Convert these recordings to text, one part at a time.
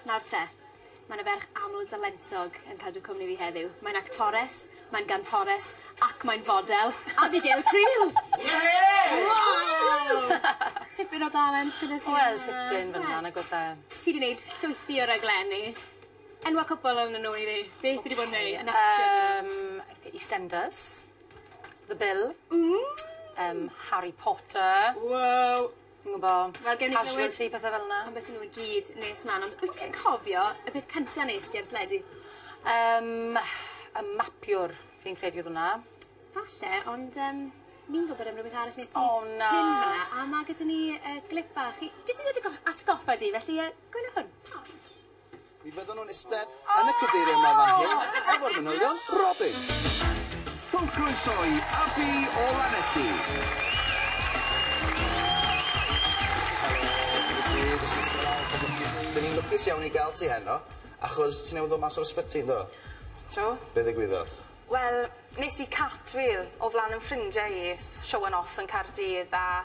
Nawr te, ma' 'na ferch amldalentog yn cadw cwmni fi heddiw. Mae'n actores, mae'n gantores, ac mae'n fodel. Abigail Creel! Yay! Waw! Tipyn o dalent gyda ti. Wel tipyn fyn 'na nag o's e? Ti 'di neud llwythi o raglenni. Enwa' cwpwl onyn nw i fi. Be' ti 'di bod yn neu' yn actio dyddia 'ma? Yym The EastEnders, The Bill. Ww! Yym Harry Potter. Wow! Fi'n gwbo. Wel gewn ni glywed... ...casualty pethe fel 'na. Ambyti n'w i gyd nes mlan ond wyt ti'n cofio y peth cynta nest ti ar teledu? Yym y mapiwr fi'n credu odd wnna. Falle ond yym fi'n gwbod am rwbeth arall nest ti... O na. ...cyn hwnna a ma' gyda ni yy glip bach i jyst i ddod i gof- atgoffa di felly yy gwnâi hwn. Mi fyddan nhw'n istedd yn y cadeiriau 'ma fan hyn efo'r manylion, Robin! Rhowch groeso i Abi o Lanelli. Dyn ni'n lwcus iawn i gael ti heno, achos ti newydd ddod mas o'r ysbyty, yn do? Do. Be ddigwyddodd? Wel, nes i cartwheel o flan 'yn ffrindiau i, s- show 'un off yn Caerdydd, a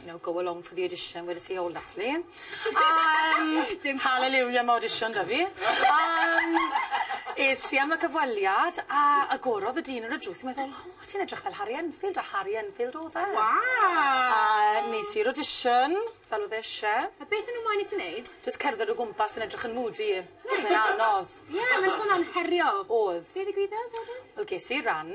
you know go along for the audition where they say oh lovely yym dim hallelujah am audition 'da fi yym es i am y cyfweliad a agorodd y dyn ar y drws a meddwl o ti'n edrych fel Harri Enfield a Harri Enfield o'dd e. Waw! A nes i'r audition fel o'dd e isie. A beth o' n'w moyn i ti neud? Jyst cerdded o gwmpas yn edrych yn moody. Reit. Mae'n anodd. Ie mae'n swnio'n heriol. O'dd. Be' ddigwyddodd wedyn? Wel ges i ran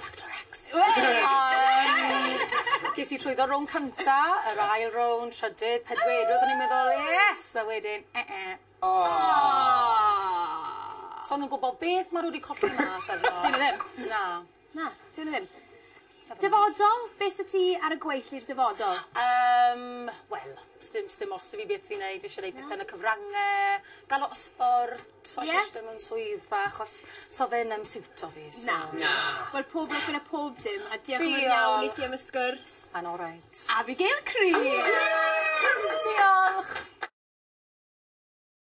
Factor X. Wei! Yym ges i llwyddo rownd cynta yr ail rownd trydydd pedwerydd o'n i'n meddwl yes a wedyn e e. O! So o'n nw'n gwbo beth ma' n'w 'di colli mas arno. 'Dyn nw ddim. Na. Na, 'dyn nw ddim. Dyfodol, be' sy ti ar y gweill i'r dyfodol? Yym wel sdim sdim ots 'dy fi beth fi'n neud fi isie neud pethe yn y cyfrange, ga'l lot o sbort. So Ie. jyst dim yn swyddfa achos so fe ddim siwto fi so... Na. Na. Wel pob lwc gyda pob dim a diolch yn fowr iawn... Diolch. ...i ti am y sgwrs. Mae'n oreit. Abigail Creel! Ww! Diolch!